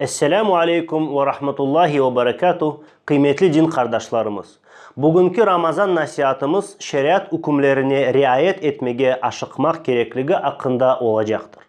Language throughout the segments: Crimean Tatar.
Esselamu aleykum ve rahmetullahi ve berekatuh, qıymetli din qardaşlarımız! Bugünki Ramazan nasiatımız şeriat ükümlerine riayet etmege aşıqmaq kerekligi aqqında olacaqtır.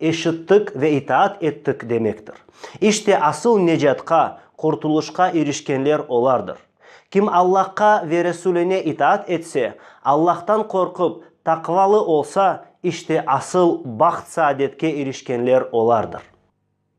Eşittik ve itaat ettik demektir. İşte asıl necatqa, qurtuluşqa irişkenler olardır. Kim Allahqa ve Resuline itaat etse, Allahtan qorqıp, taqvalı olsa, işte asıl baht-saadetke irişkenler olardır.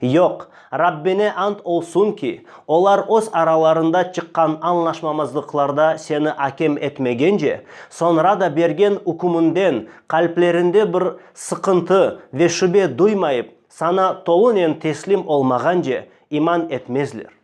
Yoq, Rabbine ant olsun ki, olar öz aralarında çıqqan añlaşmamazlıqlarda seni akem etmegence, soñra da bergen ükmünden qalplerinde bir sıqıntı ve şübe duymayıp, sana tolunen teslim olmağance, iman etmezler.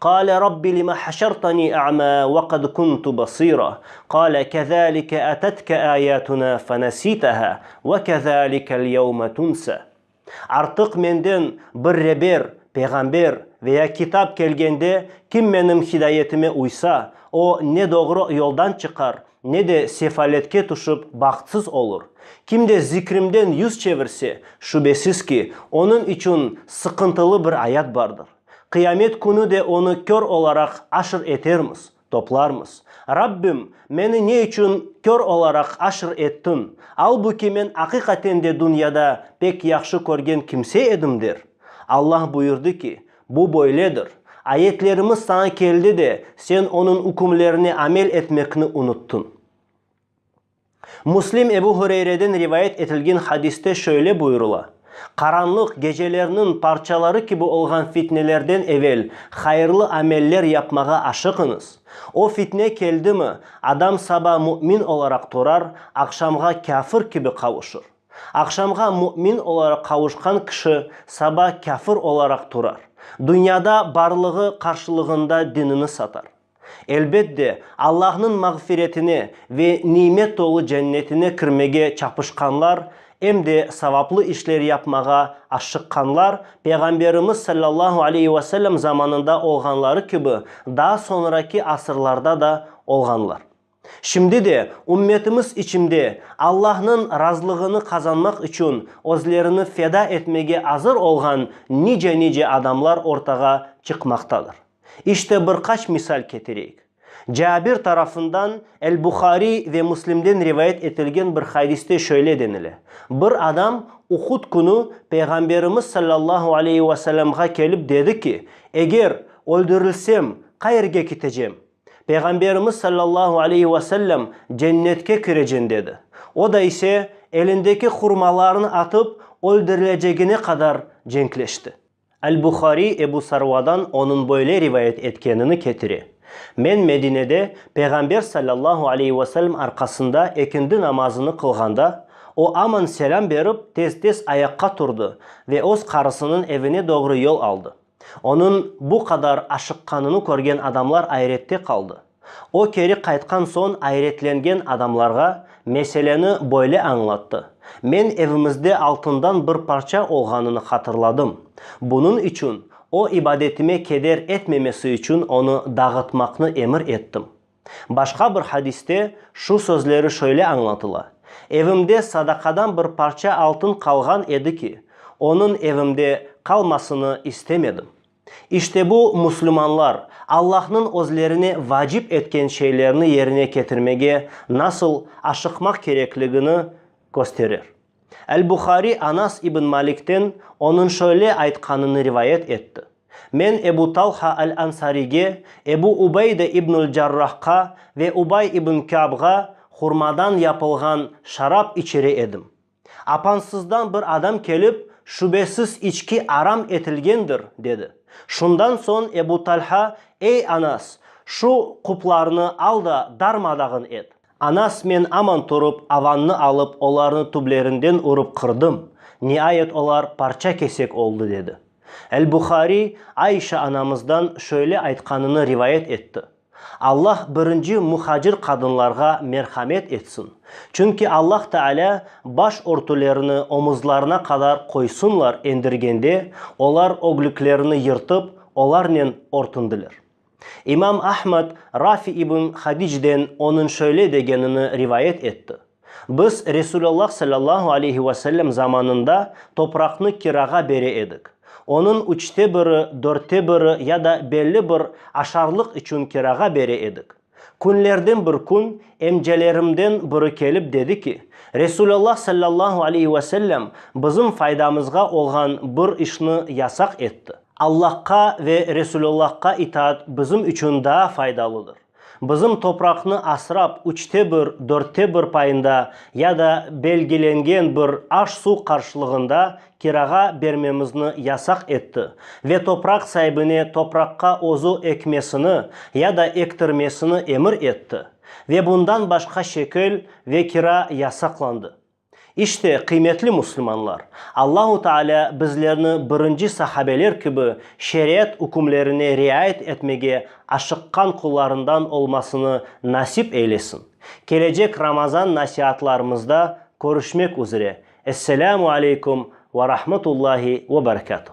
Qâle Rabbi lima haşartani a'mâ ve qad kuntu basîrâ, qâle kezâlike atetka âyâtunâ fenesîtehâ ve kezâlikel yevme tunsâ. Artıq menden bir reber, peyğamber, ve ya kitap kelgende, kim menim hidayetime uysa, o, ne doğru yoldan çıqar, ne de sefaletke tüşip bahtsız olur. Kim de zikrimden yüz çevirse, şübesiz ki, onıñ içün sıqıntılı bir ayat bardır. Qıyamet künü de onı kör olaraq aşr etermiz, toplarmız. Rabbim, meni ne içün kör olaraq aşr ettiñ, albuki men aqiqaten de dünyada pek yahşı körgen kimse edim? der. Allah buyurdı ki, Bu böyledir, ayetlerimiz saña keldi de, sen onıñ ükümlerine amel etmekni unuttıñ. Müslim Ebu Hureyreden rivayet etilgen hadiste şöyle buyurula, Qaranlıq, gecelerniñ parçaları kibi olğan fitnelerden evel hayırlı ameller yapmağa aşıqıñız. O fitne keldimi, adam saba mümin olaraq turar, aqşamğa kâfir kibi qavuşır. Aqşamğa mümin olaraq qavuşqan kişi saba kâfir olaraq turar. Dünyada barlığı qarşılığında dinini satar. Elbet de, Allahnıñ mağfiretine ve nimet tolu cennetine kirmege çapışqanlar, em de savaplı işler yapmağa aşşıqqanlar, Peyğamberimiz sallallahu aleyhi ve sellem zamanında olğanları kibi, daa soñraki asırlarda da olğanlar. Şimdi de ümmetimiz içinde Allahnıñ razılığını qazanmaq içün özlerini feda etmege azır olğan nice-nice adamlar ortağa çıqmaqtadır. İşte bir qaç misal ketireyik. Cabir tarafından El-Buhariy ve Müslimden rivayet etilgen bir hadiste şöyle denile, Bir adam Uhud künü Peyğamberimiz sallallahu aleyhi ve sellemğa kelip dedi ki, Eger öldürilsem, qayerge kitecem? Peyğamberimiz sallallahu aleyhi ve sellem cennetke kireceğin dedi. O da ise elindeki hurmalarını atıp öldürilecegine qadar cenkleşti. Al-Buhariy Ebu Sarvadan onıñ böyle rivayet etkenini ketire, Men Medinede Peyğamber sallallahu aleyhi ve sellem arqasında ekindi namazını qılğanda, o aman selâm berip tez-tez ayaqqa turdı ve öz qarısınıñ evine doğru yol aldı. Onıñ bu qadar aşıqqanını körgen adamlar ayrette qaldı. O keri qaytqan soñ ayretlengen adamlarğa meseleni böyle añlattı, Men evimizde altından bir parça olğanını hatırladım. Bunıñ içün o ibadetime keder etmemesi içün onı dağıtmaqnı emir ettim. Başqa bir hadiste şu sözleri şöyle añlatıla, Evimde sadaqadan bir parça altın qalğan edi ki, onıñ evimde qalmasını istemedim. İşte bu, musulmanlar, Allahnıñ özlerine vacip etken şeylerni yerine ketirmege nasıl aşıqmaq kerekligini kösterir. El-Buhariy Anas ibn Malikten onıñ şöyle aytqanını rivayet etti, Men Ebu Talha al-Ansariyge, Ebu Ubeyde ibnül Carrahqa ve Ubay ibn Kâbğa hurmadan yapılğan şarap içire edim. Apansızdan bir adam kelip, Şübesiz içki aram etilgendir, dedi. Şundan soñ Ebu Talha, Ey Anas, şu quplarnı al da darmadağın et. Anas, men aman turıp, avannı alıp, olarnı tüblerinden urıp qırdım, niayet olar parça-kesek oldı, dedi. El-Buhariy Aişa anamızdan şöyle aytqanını rivayet etti, Allah birinci muhacir qadınlarğa merhamet etsin, çünki Allah Taalâ baş örtülerini omuzlarına qadar qoysınlar endirgende, olar öglüklerini yırtıp, olarnen örtündiler. İmam Ahmad Rafi ibn Hadicden onıñ şöyle degenini rivayet etti, Biz Resulallah sallallahu aleyhi ve sellem zamanında topraqnı kirağa bere edik. Onıñ üçte biri, dörtte biri ya da belli bir aşarlıq içün kirağa bere edik. Künlerden bir kün emcelerimden biri kelip dedi ki, Resulallah sallallahu aleyhi ve sellem bizim faydamızğa olğan bir işni yasaq etti. Allahqa ve Resûlullahqa itaat bizim içün daa faydalıdır. Bizim topraqnı asrap, üçte bir, dörtte bir payında ya da belgilengen bir aş-suv qarşılığında kirağa bermemizni yasaq etti ve topraq saibine topraqqa özü ekmesini ya da ektirmesini emir etti ve bundan başqa şekil ve kira yasaqlandı. İşte, qıymetli müslümanlar, Allahu Taalâ bizlerni birinci sahabeler kibi şeriat ükümlerine riayet etmege aşıqqan qullarından olmasını nasip eylesin. Kelecek Ramazan nasiatlarımızda körüşmek üzre. Esselâmu aleykum ve rahmetullahi ve berekâtuh.